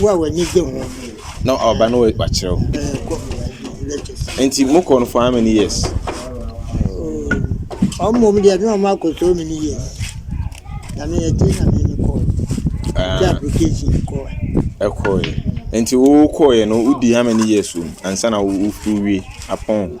Wo a w'ani gye ho. Na ɔba no wakyerɛw. Nti mo kɔ no for how many years? Ɔmo mu deɛ na ɔmo akɔ so many years. Na me yɛ ti na me ne kɔ. Ti application kɔ. Ɛkɔ yɛ. Nti wo kɔ yɛ no wodi how many years o? Ansa na wo wie apɔn.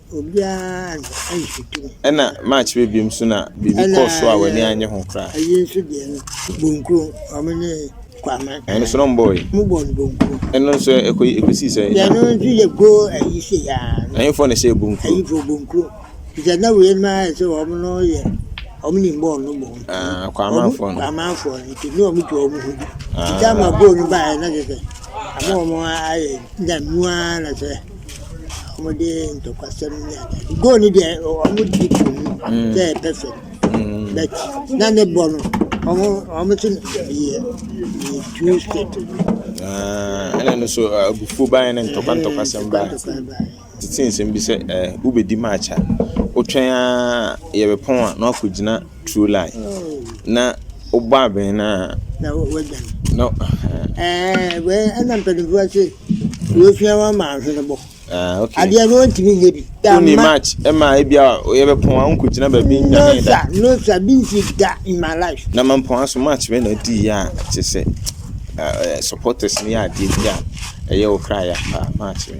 Ɛnna March baa bio nso na biribi kɔɔ so a w'ani annye ho koraa. Ɛno nso na wɔbɔeɛ. Ɛno nso ɛ- ɛkɔ ɛkɔsii sɛ ɛnya. Ɛhefoɔ na ɛhyɛɛ Bonkuro? Ah, Kwamanfoɔ no. Ah. wɔde ntɔkwasɛm ne ade ade. Goal no deɛ wɔde to mu mm. sɛ perfect mm. but na ne bɔ no wɔn wɔn ti yɛ two step. Ah, ɛna no so ah, abufuo ban ne ntɔkwa ntɔkwasɛm ban tete nsɛm bi sɛ ɛɛ eh, wobɛdi match a wotwɛn a yɛbɛpɔn a na wakɔgyina. True lie na wobɔ abɛn no a. Na wagya no. Ɛɛ wei ɛna mpanimfoɔ ase wɔsua wɔn ma ahwene bɔ. Ah, okay. Adeɛ no ntumi nyɛ bi. Wonni match ɛma eh, ebi a yɛbɛpɔn a wonkɔgyina baabi nyame da. No sa, no sa, bi nsi da in my life. Na mampɔn aso match bɛ na adi yɛ a kyɛ sɛ eh, eh, supporters no yɛ adeɛ bi a ɛyɛ wo kra yɛ paa match no.